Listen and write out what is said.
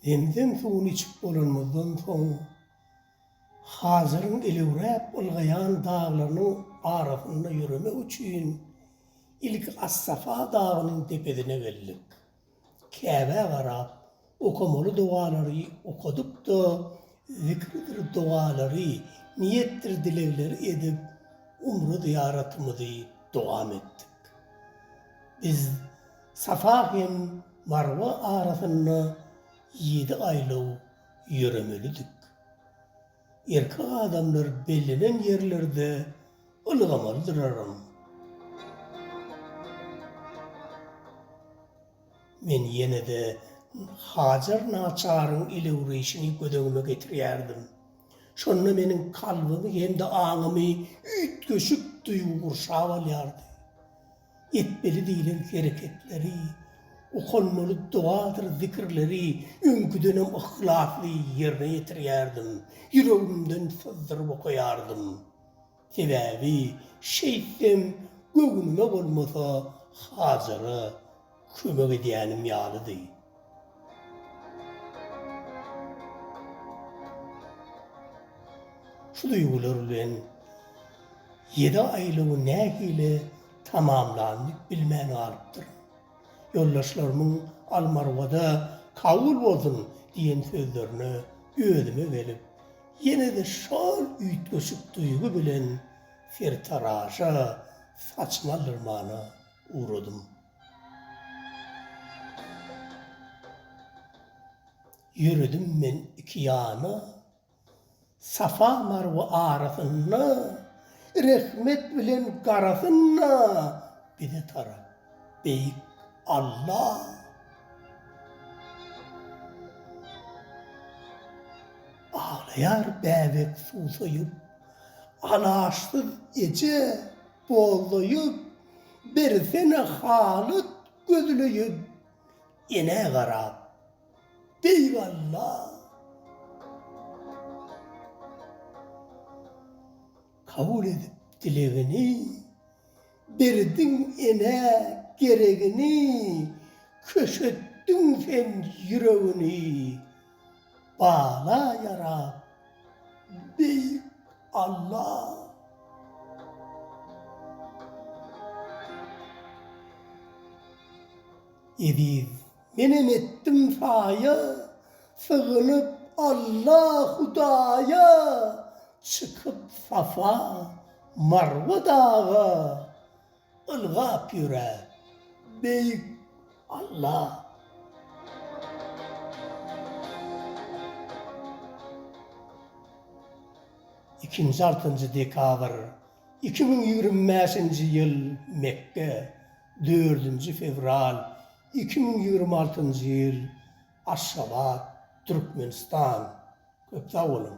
Zemzem suwuny içip bolanymyzdan soň, Hazyryň elewräp ylgaýan daglarynyň arasynda ýöremek üçin ilki As-Safa dagynyň depesine geldik. Käbä garap, okamaly dogalary okadyp-da, zikridir dogalary, niýetdir dilegleri edip, umra zyýaratymyzy dowam etdik. Biz Safa hem Marwa arasynda ýedi aýlaw ýöremelidik. Erkek adamlar bellenen ýerlerde ylgamalydyraram. Men ýene-de Hajar naçaryň elewreýşini göz öňüme getirýärdim. Şonda meniň kalbymy hem-de aňymy üýtgeşik duýgy gurşap alýardy. etmeli diýlen hereketleri, okanmaly dogadyr zikirleri öňküdenem yhlasly ýerine ýetirýärdim, ýüregimden syzdyryp okaýardym. Sebäbi şeýtsem göwnüme bolmasa, Hajara Kömek edýänim ýalydy. Şu duýgular bilen ýedi aýlygy nähili tamamlandy bilmän galypdyryn. Ýoldaşlarymyň Almarwada kabul bolsun diýen sözlerine özüme gelip, ýene-de şol üýtgeşik duýgy bilen sertaraşa saçmalyrmana ugradym. Ýöredim men iki ýana, Safa-Marwa arasynda, Rehmet bilen garasynda bize tarap, Beýik Alla! Aglaýar bäbek susaýyp, Alaçsyz eje! Gollaýyn, bersene halat gözleýin, enä garap. Beý walla! Kabul edip dilegini, berdiň enä geregini, köşetdiň sen ýüregini. Bala ýarap, Beýik Alla! Eziz, Menem etdim saýa, Sygynyp Alla Hudaýa, Çykyp Safa, Marwa daga. Ylgap ýöre, Beýik Alla! Ikinji altynjy dekabr, iki müň ýigrimi bäşinji ýyl Mekge, dördünji fewral, iki müň ýigrimi altynjy ýyl Aşgabat, Türkmenistan. Köp sag boluň!